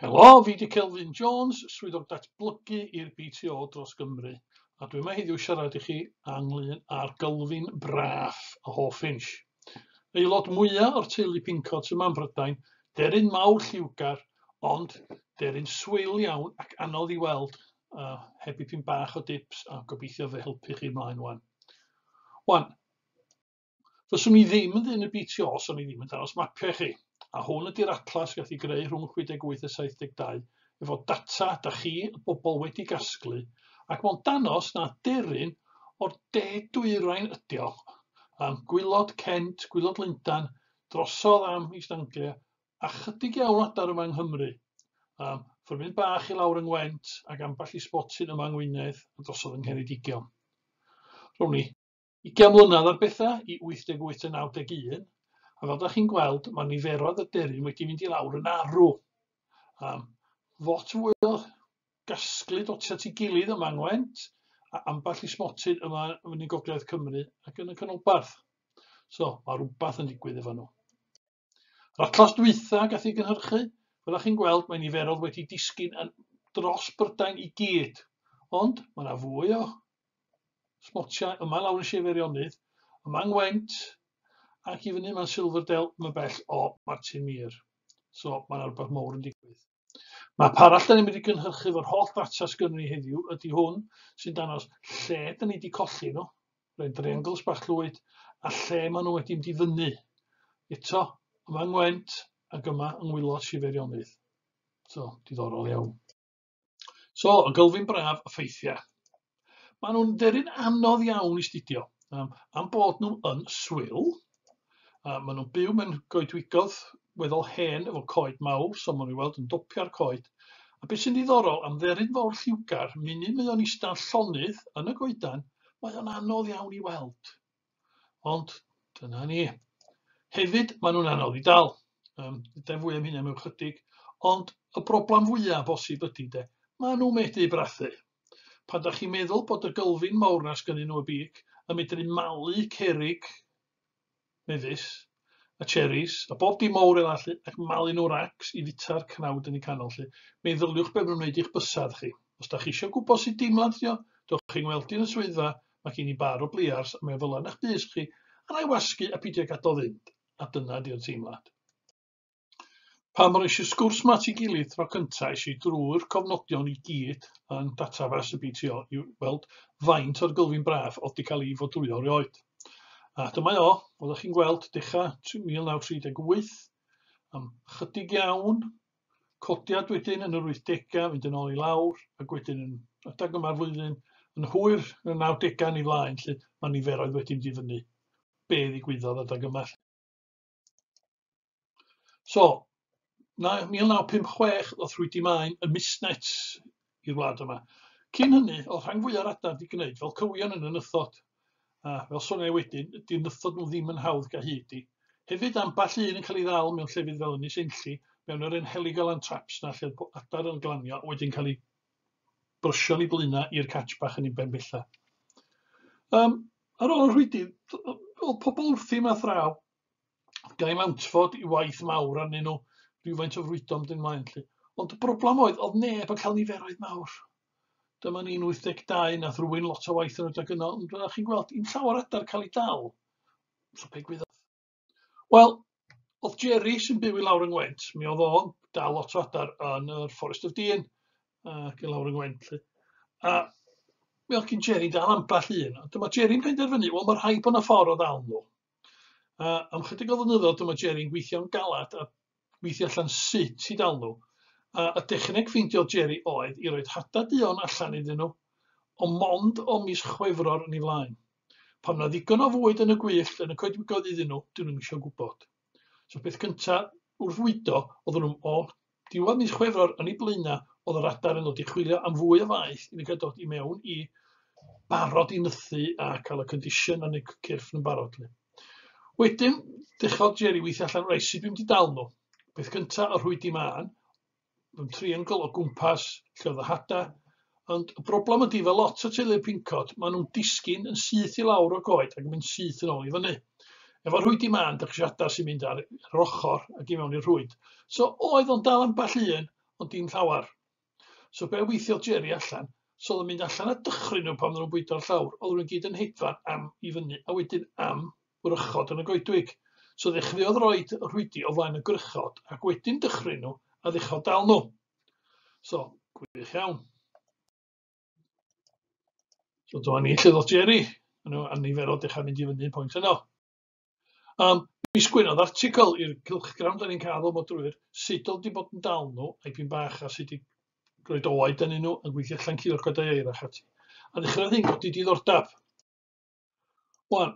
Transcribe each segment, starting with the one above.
Helo, fi di Kelvin Jones, Swyddog Datblygu i'r BTO dros Gymru, a dwi yma heddiw siarad i chi anglyn ar Gylfin Braf a Hoff Inch. Aelod mwyaf o'r teulu Pincot yma yn Brydain, deryn mawr lliwgar, ond deryn swil iawn ac anodd i weld, a heb i pyn bach o dips a gobeithio fe helpu chi ymlaen wan. Wan, Fyswn i ddim yn ddyn y BTO os o'n i ddim yn dangos mapiau i chi, a hwn ydy'r atlas gath i greu rhwng 68 a 72 efo data da chi, y bobl, wedi gasglu, ac mae'n danos na deryn o'r de dwyrain ydi o, am gwylod Kent, gwylod Lundan, drosodd am East Anglia, a chydig iawn adar yma yng Nghymru, am ffyrmyn bach i lawr yng Ngwent ac ambell i sbotyn yma yng Ngwynedd a drosodd yng Ngheredigion. Rown ni. Ugain mlynedd ar bethau i 88 a 91, a fel da chi'n gweld, mae niferoedd y deryn wedi mynd i lawr yn arw. Um, lot fwy o gasglu doti at ei gilydd yma yng Ngwent, a ambell i smotyn yma yn y gogledd Cymru ac yn y canolbarth. So, mae rhywbeth yn digwydd efo nhw. Yr atlas dwytha gath ei gynhyrchu, fel ych chi'n gweld, mae niferodd wedi disgyn yn dros Brydain i gyd. Ond mae yna fwy o smotiau yma lawr yn Sir Feirionnydd, yma Ngwent, ac i fyny yma'n Silverdale, yma bell o Martin Mir. So mae yna rhywbeth mowr yn digwydd. Map arall da ni'n mynd i gynhyrchu fo'r holl ddata sgynnu ni heddiw ydy hwn sy'n dangos lle da ni wedi colli nhw, rhaid triangles bach llwyd, a lle maen nhw wedi mynd i fyny. Eto, yma yng Ngwent ac yma yng Ngwylod Siferionydd. So, diddorol iawn. So, y gylfyn braf, y ffeithiau. Maen nhw'n dderin anodd iawn i studio, um, am bod nhw yn swyl. Uh, maen nhw'n byw mewn goedwigodd weddol hen efo coed mawr, so maen nhw'n weld yn dopio'r coed. A beth sy'n ddiddorol, am dderin fawr lliwgar, munud mae o'n eistedd llonydd yn y goedan, mae o'n anodd iawn i weld. Ond dyna ni. Hefyd, maen nhw'n anodd i dal. Um, Dydau fwy am hynny mewn chydig. Ond y broblem fwyaf bosib ydy de, maen nhw'n medru brathu. Pan da chi'n meddwl bod y gylfyn mawr na sgynnyn nhw y big yn medru malu cerig mefus, a cheris, a bob dim mowr fel 'a 'lly, ac malu nhw racs i fita'r cnawd yn y canol 'lly. Meddyliwch be' ma' nhw'n wneud i'ch bysedd chi. Os 'dach chi isio gwybod sut deimlad ydi o, dewch i 'ngweld i yn y swyddfa, ma' gen i bar o bliars a mae o fel 'a yn 'ych bys chi, a 'na i wasgu a pidio gadael fynd, a dyna 'di'r teimlad. Pan roes y sgwrs yma at ei gilydd tro cynta, es i drwy'r cofnodion i gyd yn database y BTO i weld faint o'r gylfyn braf oedd wedi cael ei fodrwyo erioed. A dyma o, oeddech chi'n gweld, dechrau 1938, am chydig iawn, codiad wedyn yn yr 80au, fynd yn ôl i lawr, ac wedyn yn adag yma'r flwyddyn, yn hwyr yn y 90au yn ei flaen, lle mae niferoedd wedi mynd i fyny. Be ddigwyddodd adag yma? So, naw- 1956 ddoth Rwydi Maen yn misnet i'r wlad yma. Cyn hynny, o'dd rhan fwya'r adar 'di gneud fel cywion yn y nythod, a fel soniai i wedyn, 'di'r nythod nhw ddim yn hawdd ga' hyd i. Hefyd, amball un yn cael ei ddal mewn llefydd fel Ynys Enlli, mewn yr 'hen heligalan traps' 'na lle'r bo- adar yn glanio a wedyn cael eu brysio'n ei blaenau i'r catch bach yn ei ben bella. Um, ar ôl yr hwydi, oedd pobl wrthi yma thraw, gael mantfod i waith mawr arnyn nhw, rhywfaint o frwydo am dyn mlaen. Lli. Ond y broblem oedd, oedd neb yn cael niferoedd mawr. Dyma ni'n 82, nath rwy'n lot o waith yn rhedeg yno, ond fel chi'n gweld, i'n llawer adar cael ei dal. So pe gwyddoch Wel, oedd Jerry sy'n byw i lawr yng Ngwent, mi oedd o'n dal lot o adar yn yr Forest of Dean ac i lawr yng Ngwent. Lly. A mi oedd gen Jerry dal ambell un. A dyma Jerry'n penderfynu, wel mae rhaid bod yna ffordd o ddal nhw. A am chydig o flynyddoedd dyma Jerry'n gweithio'n galad a weithio allan sut i dal nhw, a y dechneg ffeindio Jerry oedd i roid hada duon allan iddyn nhw, ond mond o mis Chwefror yn ei flaen. Pan na ddigon o fwyd yn y gwyllt yn y coedwigoedd iddyn nhw, dyn nhw'n eisiau gwybod. So peth cynta wrth fwydo, oedden nhw o diwedd mis Chwefror yn ei blaenau, oedd yr adar yn dod i chwilio am fwy o faeth i ni gael dod i mewn i barod i nythu a cael y condition yn y cyrff yn barod. Wedyn dechrodd Jerry weithio allan rei sut dwi'n di dal nhw. Peth cynta o rhwydi mân, yn triangle o gwmpas lle oedd y hada. Ond y broblem ydy fel lot o teulu'r pincod, maen nhw'n disgyn yn syth i lawr o goed ac yn mynd syth yn ôl i fyny. Efo rhwydi mân, dych chi hada sy'n mynd ar yr ochr ac i mewn i'r rhwyd. So oedd o'n dal am ball un, ond dim llawer. So be weithiodd Jerry allan? So oedd o'n mynd allan a dychryn nhw pan oedden nhw'n bwydo'r llawr. Oedd nhw'n gyd yn hedfan am i fyny a wedyn am wrychod yn y goedwig. So ddechreuodd roi rhwydi o flaen y gwrychod ac wedyn dychryn nhw a ddechrau dal nhw. So, gwych iawn. So dyma ni lle ddod Jerry. Mae nhw a nifer o dechrau mynd i fyny pwynt yno. Yym, mi sgwennodd article i'r cylchgrawn 'dan ni'n cael fel modrwyr, sut o'dd 'di bod yn dal nhw, a'i pyn bach, a sut i roid oed ynyn nhw, yn gweithio allan cil o'r codau eira ac ati. A ddechreuodd hyn godi diddordab. Wan,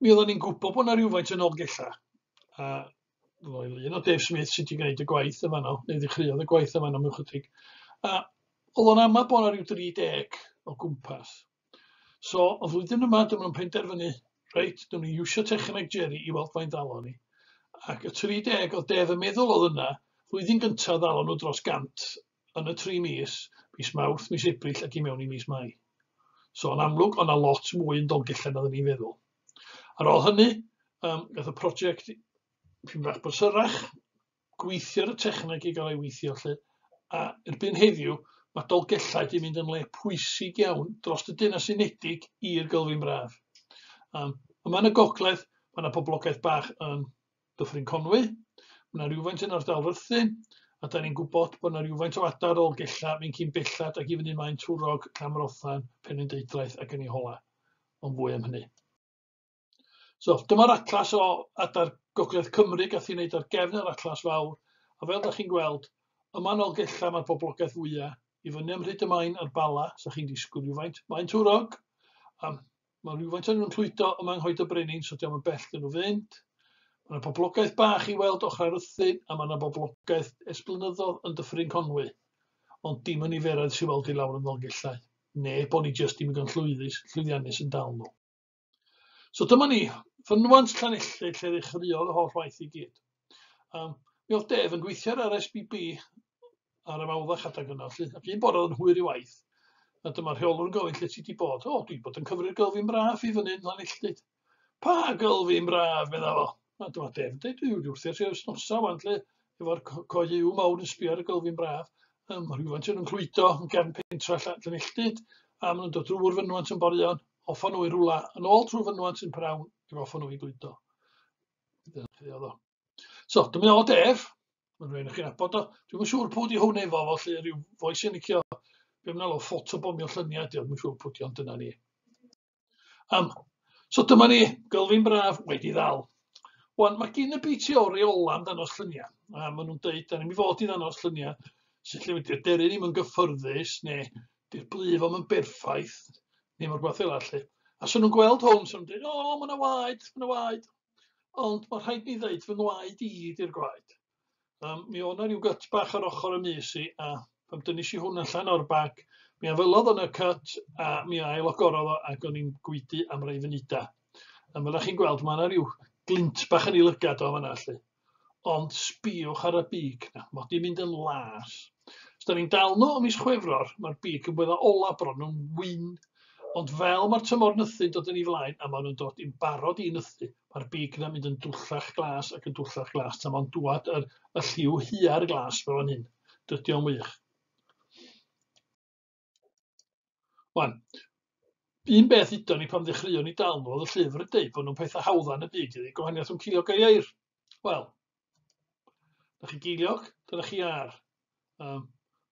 mi oeddan ni'n gwybod bod 'na rywfaint yn Nolgella, a roedd i lun o Dave Smith sydd 'di gwneud y gwaith yn fanno, neu ddechreuodd y gwaith yn fanno mewn chydig. a o'dd o'n amau bod 'na ryw 30 o gwmpas. So, y flwyddyn yma, dyma nhw'n penderfynu, reit, dyma ni iwsio techneg Jerry i weld faint ddalo ni. Ac y 30 oedd Def yn meddwl oedd yna, flwyddyn gyntaf ddalo nhw dros gant yn y tri mis, mis Mawrth, mis Ebrill ac i mewn i mis Mai. So, yn amlwg, o'na lot mwy yn Dolgellau na ni'n feddwl. Ar ôl hynny, um, gath y prosiect pyn bach brysyrach, gweithio ar y techneg i gael ei weithio 'lly, a erbyn heddiw mae Dolgellau 'di mynd yn le pwysig iawn dros y Deyrnas Unedig i'r Gylfyn Braf. Um, yma yn y gogledd, mae yna poblogaeth bach yn Dyffryn Conwy, mae yna rhywfaint yn ardal Rhythun, a da ni'n gwybod bod yna rhywfaint o adar ôl gella fi'n cyn bellad ac i fyny mae'n Twrog, Clamrothan, Penrhyndeudraeth ac yn ei hola. Ond fwy am hynny. So, dyma'r atlas o adar Gogledd Cymru, gath ei wneud ar gefn yr atlas fawr, a fel da chi'n gweld, yma yn Olgella mae'r boblogaeth fwyaf, i fyny am Rhyd y Maen a'r Bala, sa chi'n disgwyl rhywfaint, mae'n twrog, a mae rhywfaint o'n nhw'n llwydo yma yng Nghoed y Brenin, so diolch yn bell dyn nhw fynd. Mae yna boblogaeth bach i weld ochr ar ythu, a mae yna boblogaeth esblynyddodd yn dyffryn Conwy, ond dim yn niferoedd sy'n weld i lawr yn Ddolgellau, neu bod ni jyst dim yn llwyddus, llwyddiannus yn dal nhw. So dyma ni, fynwant Llanelli lle ddechreuodd y holl waith i gyd. Um, mi oedd Def yn gweithio ar yr SBB ar y mawddach adeg yna, lle, ac un bore oedd yn hwyr i waith, a dyma rheolwr yn gofyn lle ti di bod. O, dwi bod yn cyfri'r gylfi'n braf i fyny yn Llanelli. Pa gylfi'n braf, medda fo. Mae dod efn dweud yw wrth i'r sef snosa wan lle efo'r coed yw mawr yn sbio ar y gylfyn braf. Ym rhywfaint yn clwydo yn gefn pentra allan yn elltud a maen nhw'n dod drwy'r fynwant yn borion, offa nhw i rwla yn ôl trwy fynwant yn prawn i offa nhw i gludo. Dyna chi oedd o. So, dyma o def, mae'n rhaid i chi'n abod o. Dwi'n siŵr pwy di hwn efo fo, lle rhyw foes yn licio, be mnal o ffotobomio lluniau, diolch yn siŵr pwy di ond dyna ni. Um, so dyma ni, gylfyn braf wedi ddal. Wan, mae gen y BT o reola am danos lluniau. A maen nhw'n dweud, da ni'n mi fod i ddangos lluniau sy'n lle wedi'r deru ddim yn gyffyrddus neu di'r blif am yn berffaith neu mor gwaith eilad lle. A sy'n nhw'n gweld hwn, sy'n nhw'n dweud, o, mae yna waed, mae yna waed. Ond mae rhaid ni ddeud fy ngwaed i ydy'r gwaed. Um, mi o'na rhyw gyt bach ar ochr y mis i, a pan dynis i hwn allan o'r bag, mi afelodd yn y cyt, a mi ail ogorodd o, ac o'n i'n gwydu am rei funudau. A fel chi'n gweld, mae yna rhyw glint bach yn ei lygad o fanna, lle. Ond sbiwch ar y big na, mod i'n mynd yn las. Os da ni'n dal nhw o mis chwefror, mae'r big yn bwydda ola bron nhw'n wyn. Ond fel mae'r tymor nythu'n dod yn ei flaen a maen nhw'n dod i'n barod i nythu, Mae'r big yna'n mynd yn dwllach glas ac yn dwllach glas tan fo'n dwad yr, y lliw huar glas fel hyn. Dydy o'n wych. Wan, un beth ydo ni pan ddechreuon ni dal nhw, oedd y llyfr yn dweud bod nhw'n pethau hawddan y byd, ydy gwahaniaeth yn cilio gair. Wel, Dych chi geiliog? Dyna chi ar. Um,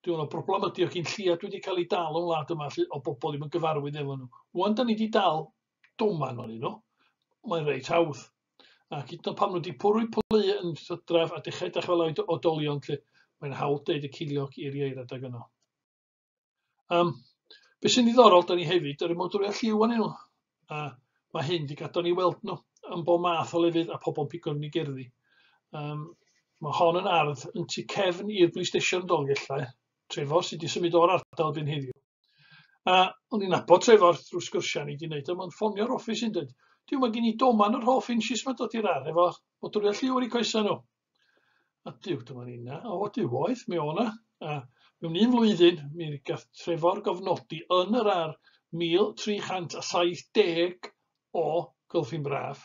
Dwi'n meddwl broblem ydy o gyn lliad wedi cael ei dal o'n wlad yma lle, o bobl ddim yn gyfarwydd efo nhw. Wan, da ni wedi dal doman o'n nhw. Mae'n reit hawdd. Ac hyd yn pam nhw wedi pwrwy plu yn sydraf a dechrau dechrau fel oed odolion lle mae'n hawdd deud y ciliog i'r ieir adag yno. Um, be sy'n ddiddorol, da ni hefyd, yr ymwydwriaeth lliw anyn nhw. A mae hyn wedi gadw ni weld nhw yn bob math o lefydd a pobl yn pigo ni gerddi. Um, mae hon yn ardd yn tu cefn i'r police station Dolgellau, Trefor sydd wedi symud o'r ardal dyn heddiw. A o'n i'n nabod Trefor drwy sgyrsiau ni wedi wneud, a mae'n ffonio'r offis yn dweud, diw mae gen i doman yr hoff inches mae'n dod i'r ar, efo modwriaeth lliw ar ei coesau nhw. Ydyw, dyma ni na. O, ydyw, oedd, mi o'na. A mewn un flwyddyn, mi gath Trefor gofnodi yn yr ar 1370 o Gylfyn Braf,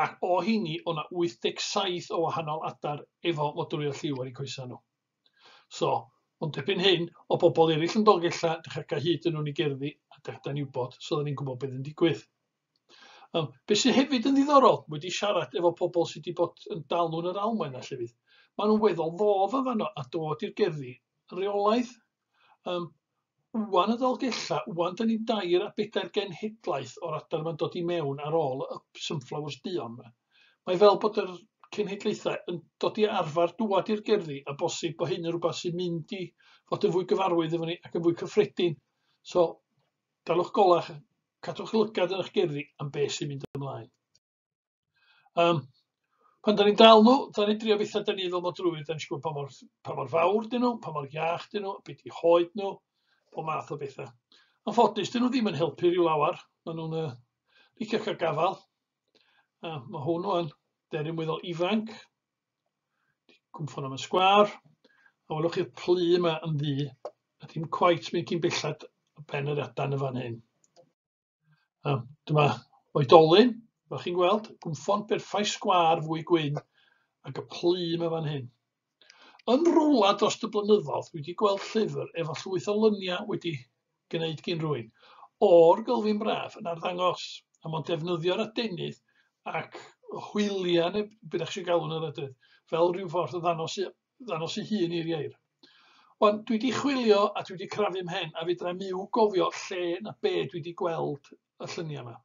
ac o hini o'na 87 o wahanol adar efo modrwy a lliw ar eu coesau nhw. So, ond dipyn hyn o bobl eraill yn Dolgella, dych ac a hyd yn nhw'n ei gerddi, a dych da'n iwbod, so dda ni'n gwybod beth yn digwydd. Um, be sydd hefyd yn ddiddorol, wedi siarad efo pobl sydd wedi bod yn dalwn yr Almaen a llefydd, maen nhw'n weddol ddof yn fanno a dod i'r gerddi reolaidd. Yym, ŵan y Ddolgellau, ŵan da ni'n dair a bedair genhedlaeth o'r adar yma'n dod i mewn ar ôl y Sunflowers duon yma. Mae fel bod yr cenhedlaethau yn dod i arfer dŵad i'r gerddi a bosib bod hyn yn rhywbeth sy'n mynd i fod yn fwy gyfarwydd efo ni ac yn fwy cyffredin. So, dalwch golach, cadwch lygad yn eich gerddi am beth sy'n mynd ymlaen. Yym, pan 'dan ni'n dal nhw, 'dan ni'n drio betha 'dan ni fel mor drwg, 'dan ni isio gwbod pa mor ff- pa mor fawr 'dyn nhw, pa mor iach 'dyn nhw, be' 'di hoed nhw, pob math o betha. Yn ffodus 'dyn nhw ddim yn helpu ryw lawer, ma' nw'n yy licio ca'l gafal, a ma' hwn ŵan, deryn weddol ifanc, cwmffon am y sgwâr, a welwch chi'r plu 'ma yn ddu, a dim cweit mynd cyn bellad ben yr adan yn fan hyn. A dyma oedolyn, fel chi'n gweld, gwnffon berffaith sgwâr fwy gwyn ac y plum yn fan hyn. Yn rwla dros y blynyddoedd, dwi wedi gweld llyfr efo llwyth o lyniau wedi gwneud gyn rwy'n o'r gylfyn braf yn arddangos, a mae'n defnyddio'r adenydd ac hwyliau, neu beth eich eisiau galw nhw'n edrych, fel rhyw ffordd o ddanos ddangos ei hun i'r ieir. Ond dwi wedi chwilio a dwi wedi crafu mhen a fedra mi i'w gofio lle na be dwi wedi gweld y lluniau yma.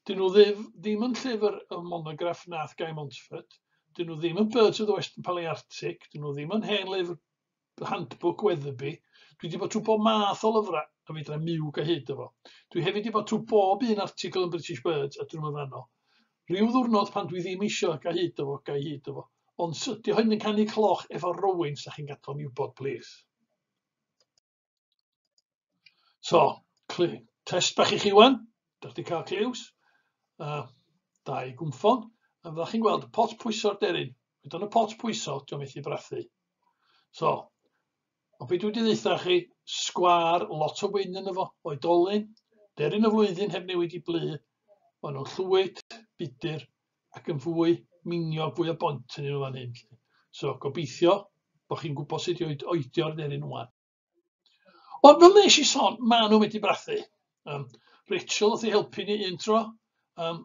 Dyn nhw ddim, ddim yn llyfr y monograff nath Guy Montfort, dyn nhw ddim yn Birds of the Western Palearctic, dyn nhw ddim yn hen lyfr handbook Weatherby, dwi wedi bod trwy bob math o lyfrau a fedra miw gyhyd efo. Dwi hefyd wedi bod trwy bob un article yn British Birds a drwy myfanno. Rhyw ddiwrnod pan dwi ddim isio ga hyd do fo, ga hyd do fo. Ond sy, dio hyn yn canu cloch efo rowyn sa chi'n gadal ni wybod plis. So, test bach i chi wan, dych chi cael cliws, uh, da i gwmffon, a fydda chi'n gweld y pot pwyso'r deryn. Wedyn y pot pwyso, diolch methu brathu. So, Ond be dwi 'di ddeutha chi, sgwâr, lot o wyn yno fo, oedolyn, deryn o flwyddyn heb newid i blu, ma' nhw'n llwyd, budur, ac yn fwy miniog, fwy o bont yn nhw fan hyn. So, gobeithio bod chi'n gwybod sut i oedio'r deryn wan. Ond fel nes i son, ma' nhw wedi brathu. Um, Rachel wrth ei helpu ni un tro, um,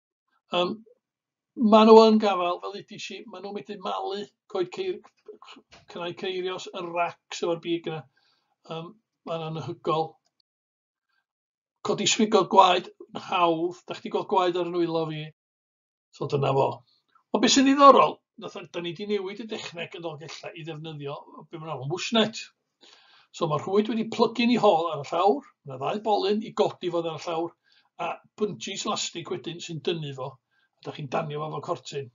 Yym, maen nhw yn gafael, fel ddudis i, maen nhw'n medru malu coed ceir- cynnau ceirios, y racs efo'r big yna, um, mae'n anhygoel. Codi swigod gwaed yn hawdd, da chdi gweld gwaed ar y nwylo fi, so dyna fo. Ond beth sy'n ddiddorol, da ni wedi newid y dechneg yn Dolgellau i ddefnyddio be maen nhw'n alw'n bushnet, So mae rhwyd wedi plygu'n ei hol ar y llawr, mae ddau bolyn i godi fod ar y llawr, a buncis lastig wedyn sy'n dynnu fo, a da chi'n danio fo fel cortyn.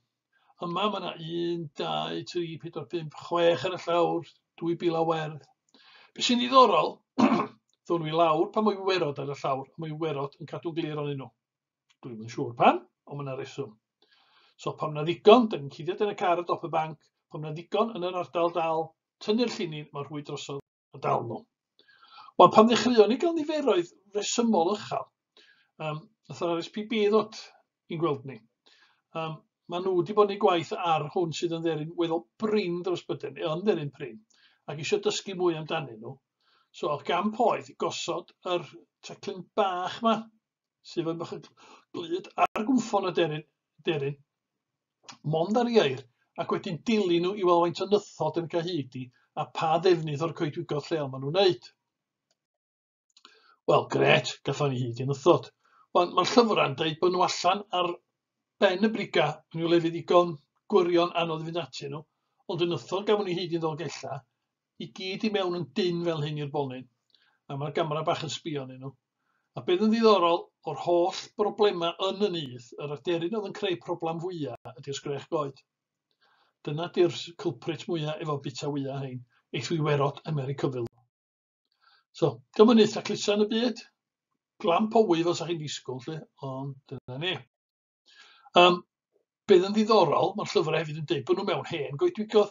Yma mae yna 1, 2, 3, 4, 5, 6 ar y llawr, 2,000 o werdd. Be sy'n ddiddorol, ddwn i lawr pan mwy werod ar y llawr, a mwy werod yn cadw glir o'n nhw. Dwi'n yn siŵr pan, ond mae yna reswm. So pam na ddigon, da ni'n cuddiad yn y car y dop y banc, pam na ddigon yn yr ardal dal, tynnu'r llinyn mor hwy drosodd y dawn nhw. Wel, pan ddechreuon ni gael niferoedd resymol ychal, um, nath yr RSPB ddod i'n gweld ni. Um, maen nhw wedi bod yn ei gwaith ar hwn sydd yn dderin weddol brin dros byden, e, yn dderin brin, ac eisiau dysgu mwy amdanyn nhw. So, y gamp oedd i gosod yr teclyn bach ma sydd yn bach glyd ar gwmffon y deryn, deryn, mond ar ieir, ac wedyn dilyn nhw i weld faint o nythod yn cael hyd i, a pa ddefnydd o'r coedwigodd lleol maen nhw'n wneud. Wel, gret, gatho ni hyd i'n ythod. Wel, mae'r llyfrau'n dweud bod nhw allan ar ben y briga, yn yw lefydd ddigon gwirion anodd i fynd atyn nhw, ond yn ythod gafon ni hyd i'n ddolgella, I gyd i mewn yn dynn fel hyn i'r bonyn, a mae'r gamera bach yn sbio arnyn nhw. A beth yn ddiddorol, o'r holl broblemau yn y nyth, yr aderyn oedd yn creu problam fwya ydy'r sgrech goed. Dyna di'r culprit mwya efo bita wya hein, eith wiwerod America fel nhw. So, dyma nyth taclusa yn y byd, glam powy fel sa chi'n disgwyl 'lly, ond dyna ni. Yym, be' oedd yn ddiddorol, mae'r llyfrau hefyd yn deud bod nhw mewn hen goedwigodd,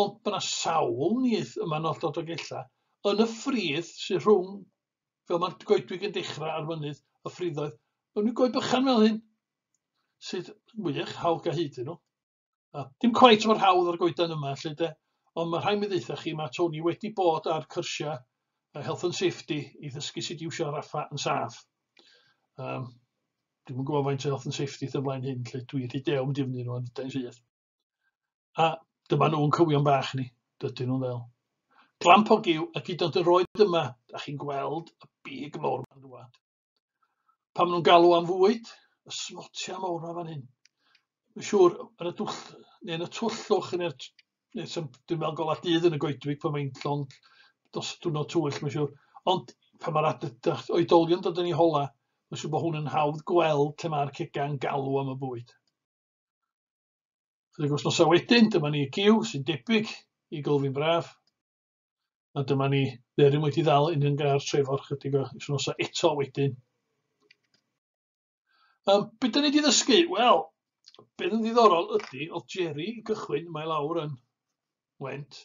ond mae yna sawl nyth yma yn olltod Dolgellau, yn y ffridd sydd rhwng, fel mae'r goedwig yn dechrau ar fynydd y ffriddoedd, mewn rhyw goed bychan fel hyn, sydd wych, hawl ga hyd i nhw. A dim cweit mor hawdd â'r goeden yma 'lly 'de, ond ma' rhai' mi ddeuthach chi ma' Tony wedi bod ar cyrsia yy health and safety i ddysgu sud i iwsio raffa yn saff. Yym dwi'm yn gwbo faint o health and safety sy' o flaen hyn 'lly dwi rhy dewr mynd i fyny rŵan ydan rhydd. A dyma nhw'n cywion bach ni, dydyn nhw'n ddel. Glamp o giw a gyd ond yr oed yma, 'dach chi'n gweld y big mowr 'ma'n dŵad. Pan maen nhw'n galw am fwyd, y smotia mawr yma fan hyn. Mae'n siŵr, yn y dwll, neu yn y twllwch, neu'r... Neu sy'n dwi'n meddwl golau dydd yn y goedwig pan mae'n llond dos diwrnod twyll, mae'n siŵr. Ond pan mae'r oedolion dod yn ei hola, mae'n siŵr bod hwn yn hawdd gweld lle mae'r cega'n galw am y bwyd. Chydig wythnosau wedyn, dyma ni y giw sy'n debyg i gylfyn braf. A dyma ni, Berwyn wedi ddal yn un gar Trefor chydig o wythnosau eto wedyn. Um, beth da ni wedi ddysgu? Wel, beth yn ddiddorol ydy, oedd Jerry i gychwyn, mae lawr yn went,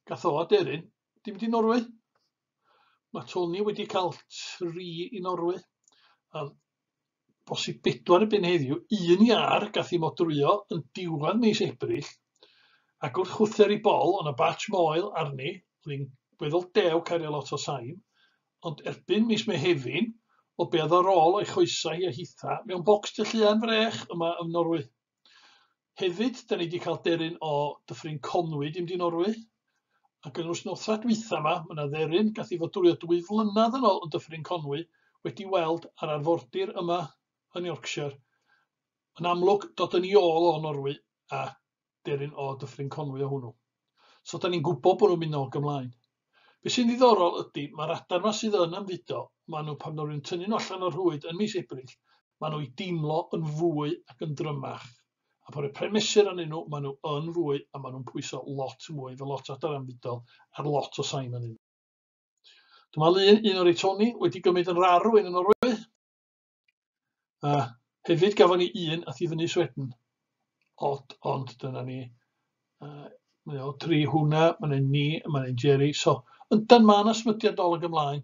gath o aderyn, dim di Norwy. Mae Tony wedi cael tri i Norwy. Um, bosib bedwar erbyn heddiw, un iâr gath ei modrwyo yn diwadd mis Ebrill, ac wrth chwther i bol, o' 'na batch moel arni, o'dd 'i'n weddol dew cario lot o sain, ond erbyn mis Mehefin, o be' o'dd ar ôl o'i choesau hi a hitha, mewn bocs Tylluan Frech yma yn Norwy. Hefyd, da ni wedi cael deryn o Dyffryn Conwy i mynd i Norwy. Ac yn nos nosfa dwytha yma, mae yna dderyn gath i fod dwrio dwy flynedd yn ôl yn Dyffryn Conwy wedi weld ar arfordir yma yn Yorkshire. Yn amlwg, dod yn ei ôl o Norwy a deryn o Dyffryn Conwy o hwnnw. So 'dan ni'n gwybod bod nhw'n mynd nôl ac ymlaen. Be sy'n ddiddorol ydy, mae'r adar yma sydd yn ymfudo, maen nhw, pan rwy'n tynnu nhw allan o'r rhwyd yn mis Ebrill, maen nhw i deimlo yn fwy ac yn drymach. A pan rhoi pren mesur arnyn nhw, maen nhw yn fwy a maen nhw'n pwyso lot mwy efo lot o adar ymfudol ar lot o sain arnyn nhw. Dyma lun un o'r Eitoni wedi gymryd yn rar rwy'n yn Norwy. A hefyd gafon ni un ath i fyny Sweden. Od, ond dyna ni. Uh, mae o tri hwnna, mae yna ni, mae yna Jerry. So, yndan mae yna smydiad dol ag ymlaen.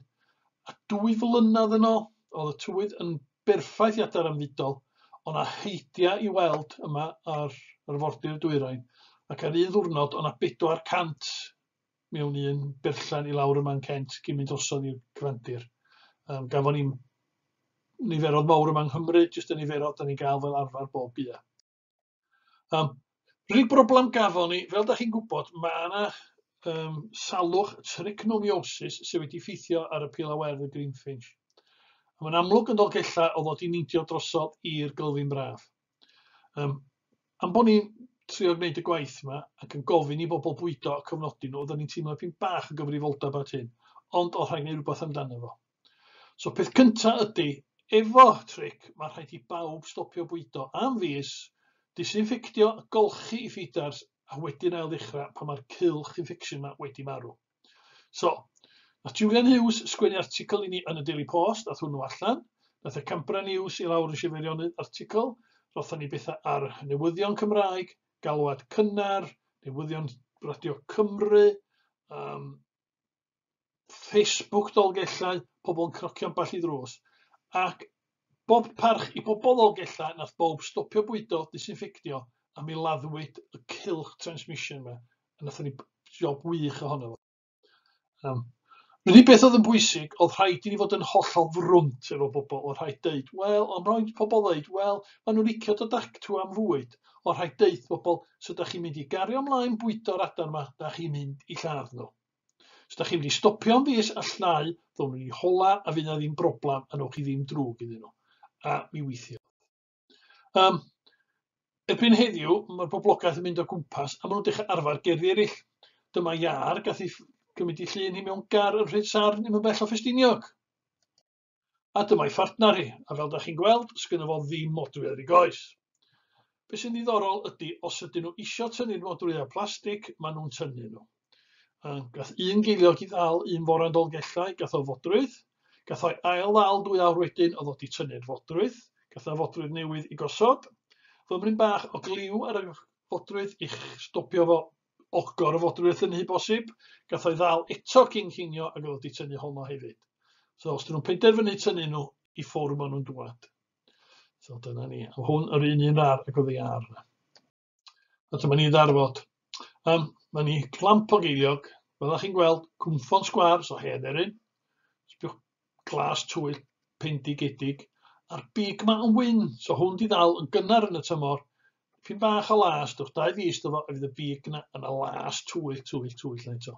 A dwy flynedd yn ôl, oedd y tywydd yn berffaith i adar am fudol, ond a heidia i weld yma ar arfordir dwyrain, ac ar un ddwrnod o'na 400 mewn un berllan i lawr ym man Kent cyn mynd drosodd i'r Cyfandir. Um, gafon ni niferodd mawr yma yng Nghymru, jyst y niferodd da ni'n gael fel arfer bob bia. Um, Rhyw broblem gafon ni, fel da chi'n gwybod, mae yna um, salwch trichnomiosis sydd wedi ffeithio ar y pil a werdd y Greenfinch. Mae'n amlwg yn Dolgellau o ddod i neidio drosodd i'r Gylfyn Braf. Yym, am bod ni'n trio gwneud y gwaith yma ac yn gofyn i bobl bwydo a cofnodi nhw, oedden ni'n teimlo pyn bach o gyfrifoldeb at hyn, ond o rhaid gwneud rhywbeth amdano fo. So peth cynta ydy, efo tric, mae rhaid i bawb stopio bwydo am fis, disinffectio a golchi i ffidars a wedyn ail ddechrau pan mae'r cylch infection yma wedi marw. So, nath Julian Hughes sgwennu articl i ni yn y Daily Post, ath hwnnw allan. Nath y Campra News i lawr yn Sir Feirionnydd articl, rotha ni bethau ar newyddion Cymraeg, galwad cynnar, newyddion radio Cymru, um, Facebook Dolgellau, pobl yn crocio ambell i ddrws, ac Bob parch i bobl ddog ella nath bowb stopio bwydo disinffectio a mi laddwyd y cylch transmission ma a nathon ni job wych ohono fo. Um, yr unig beth oedd yn bwysig oedd rhaid i ni fod yn hollol frwnt efo bobl oedd rhaid deud wel ond rhaid pobl ddeud wel maen nhw'n licio dod actw am fwyd oedd rhaid deud pobl so da chi'n mynd i gario ymlaen bwydo'r adar ma da chi'n mynd i lladd nhw. Os da chi wedi stopio am fis a llnau, ddown nhw ni hola a fydd na ddim broblam a newch chi ddim drwg iddyn nhw. A mi weithio. Um, erbyn heddiw, mae'r boblogaeth yn mynd o gwmpas a maen nhw'n dechrau arfer gerddi eraill. Dyma iar gath ei gymryd i llun hi mewn gar yn rhaid sarn ddim yn bell o Ffestiniog. A dyma'i phartner hi, a fel 'da chi'n gweld, sgynno fo ddim modrwy ar ei goes. Be' sy'n ddiddorol ydi, os ydyn nhw isio tynnu'r modrwya plastig, ma' nhw'n tynnu nhw. Yym, gath un geiliog 'i ddal un fore yn Dolgellau, gath o fodrwydd. Gath o'i ail-ddal dwy awr wedyn, o'dd o 'di tynnu'r fodrwydd. Gath o fodrwydd newydd i gosod. Fymryn bach o gliw ar y fodrwydd i'ch stopio fo ogor o fodrwydd yn nhŷ bosib, gath o'i ddal eto cyn cinio ac o'dd 'di tynnu honno hefyd. So os 'dyn nhw'n penderfynu tynnu nhw i ffwr' ma' nhw'n dŵad. So dyna ni. A hwn yr un un rar ac o'dd ei ar yna. A dyma ni ddarfod. Um, mae ni clamp o geiliog, fel chi'n gweld, cwmffon sgwar, so hen erin. Sbiwch glas twyll pendigedig a'r big ma yn wyn. So hwn di ddal yn gynnar yn y tymor. Pyn bach o las, dwch dau fus dyfo, a fydd y big na yn y las twyll, twyll, twyll na eto.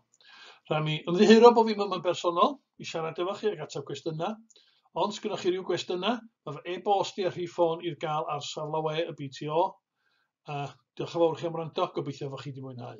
Rhaid mi ymddiheuro bod fi ddim yn bersonol i siarad efo chi ag ateb gwestiynau. Ond sgynno chi rhyw gwestiynau, mae fy e-bost i a rhif ffôn i'r gael ar saflawe y BTO. A diolch yn fawr chi am wrando, gobeithio fod chi wedi mwynhau.